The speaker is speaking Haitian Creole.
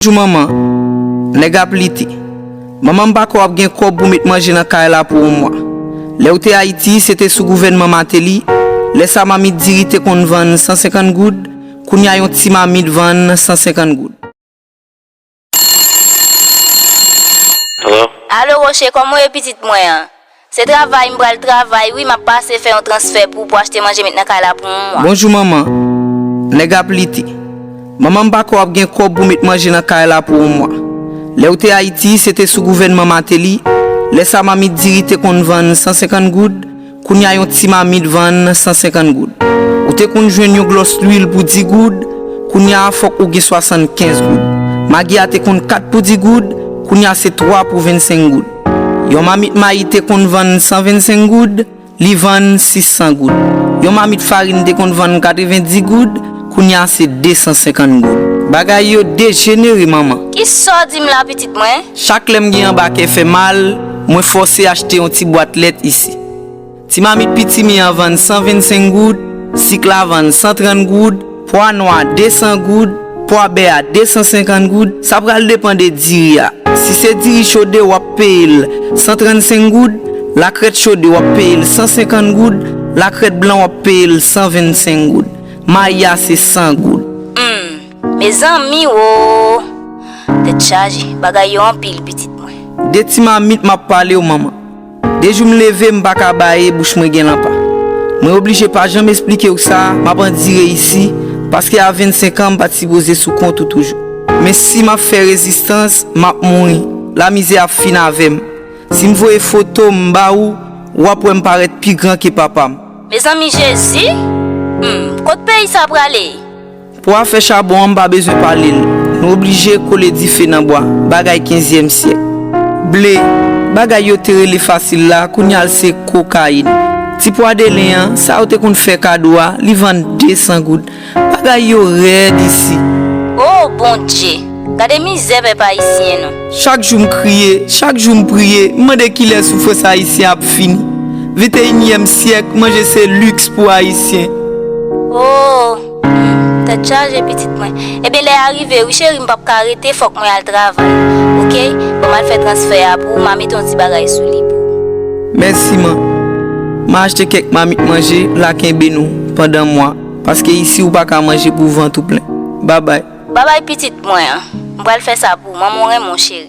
Bonjou manman, nèg ap lite. Manman m pa kwè w ap gen kòb pou met manje nan kay la pou on mwa. Lè ou te Ayiti, se te sou gouvènman Mateli, lè sa mamit diri te konn vann 150 goud, kounya yon ti mamit vann 150 goud. Alo? Alo Roche, kòman ou ye pitit mwen an? Se travay m pral travay wi map pase fè yon transfè pou pou achte manje met nan kay la pou mwa. Bonjou manman, nèg ap lite. Manman m pa kwè wap gen kòb pou met manje nan kay la pou yon mwa. Lèw te Ayiti se te sou gouvènman Mateli, lè sa mamit diri te konn vann 150 goud, kounya yon ti mamit vann 150 goud. Ou te konn jwenn yon glòs lwil pou 10 goud, kounya fòk ou gen 75 goud. Magi a te konn 4 pou 10 goud, kounya se 3 pou 25 goud. Yon mamit mayi te konn vann 125 goud, li vann 600 goud. Yon mamit farin te konn vann 90 goud, kounye a se 250 goud. Bagay yo dejenere manman! Ki sa w di m la pitit mwen? Chak lè m gen anba kè fè mal, mwen fòse achte yon ti bwat lèt isi. Ti mamit pitimi an vann 125 goud, sik la vann 130 goud, pwa nwa 200 goud, pwa bè a 250 goud, sa pral depan de diri a, si se diri chode w ap peye l 135 goud, lakrèt chode w ap peye l 150 goud, lakrèt blan w ap peye l 125 goud. Mayi a se 100 goud. Humm mezanmi woo tèt chaje bagay yo anpil pitit mwen. De ti mamit map palew manman. De jou m leve m pa ka baye bouch mwen gen lanpa. Mwen oblije pa janm esplike w sa m ap andire isi paske a 25 an m pa t sipoze sou kont ou toujou. Men si m ap fè rezistans m ap mouri, lamizè ap fin avè m. Si m voye foto m ba ou, w ap wè m parèt pi gran ke papa m. Mezanmi Jezi! Humm, kot peyi sa prale? Pou afè chabon an m pa bezwen pale l. Nou oblije kole dife nan bwa. Bagay kenzyèm syèk. Ble, bagay yo te rele fasil la, kounya l se kokayin. Ti pwa delen an, sa yo te konn fè kado a, li vann 200 goud. Bagay yo rèd isi. O, Bondje! Gade mizè pèp ayisyen nou. Chak jou m kriye, chak jou m priye, m mande kilè soufrans ayisyen ap fini. Venteyinyèm syèk, manje se liks pou ayisyen. O, Humm tèt chaje pitit mwen. Ebyen lè a rive wi cheri m pap ka rete fòk mwen al travay ok bon mal fè transfè a pou ou ma mete yon ti bagay sou li pou ou. Mèsi man. Ma achte kèk mamit manje la kenbe nou pandan mwa paske isi ou paka manje pou vant ou plen. Babay. Babay pitit mwen an. M pral fè sa pou ou man mwen renmen w cheri.